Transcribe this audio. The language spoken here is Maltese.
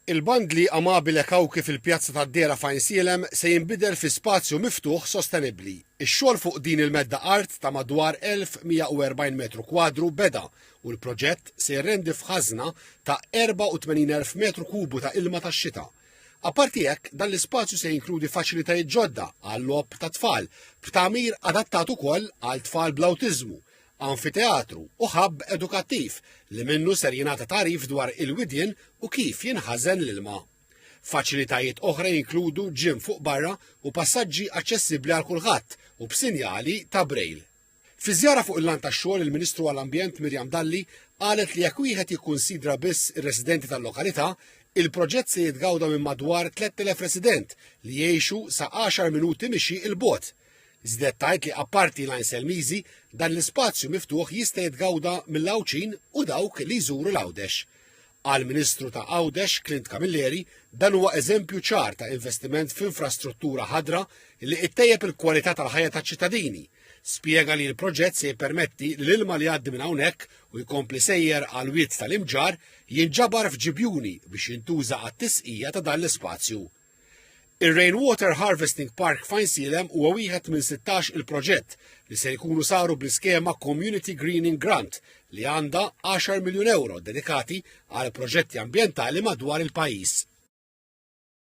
Il-bandli Amabile Kawki fil-Pjazza tad-Dehra f'Għajnsielem se jinbidel fi spazju miftuħ sostenibbli. Ix-xogħol fuq din il-medda art ta' madwar 1,140 metru kwadru beda u l-proġett se jirrendi f'ħażna ta' 84,000 metru kubu ta' ilma tax-xita. Apparti hekk, dan l-ispazju se jinkludi faċilitajiet ġodda għal-logħob tat-tfal, b'tagħmir adattat ukoll għal tfal bl-awtiżmu, anfiteatru u ħabb edukattiv li minnu ser jingħata tagħrif dwar il-widien u kif jinħażen l-ilma. Faċilitajiet oħra jinkludu ġim fuq barra u passaġġi aċċessibbli għal kulħadd u b'sinjali ta' Braille. Fi żjara fuq il-lan tax-xogħol il-Ministru għall-Ambjent Miriam Dalli qalet li jekk wieħed jikkunsidra biss ir-residenti tal-lokalità, il-proġett se jitgawda minn madwar 3,000 resident li jgħixu sa 10 minuti mixi il-bogħod Żded tgħid li apparti l-Għajn Selmiżi, dan l-ispazju miftuħ jista' jitgawda mill-Għawdxin u dawk li jżuru l-Għawdex. Għall-Ministru ta' Għawdex, Clint Camilleri, dan huwa eżempju ċar ta' investiment f'infrastruttura ħadra li ittejjeb il-kwalità tal-ħajja taċ-ċittadini. Spjega li l-proġett se jippermetti li l-ilma li jgħaddi minn hawnhekk u jkompli sejjer għal wied tal-imġarr jinġabar f'ġibjuni biex jintuża għat-tisqija ta' dan l-ispazju. Ir-Rainwater Harvesting Park f'Għajnsielem huwa wieħed minn 16 il-proġett li se jkunu saru bl-iskema Community Greening Grant li għandha 10 miljun ewro dedikati għal proġetti ambjentali madwar il-pajjiż.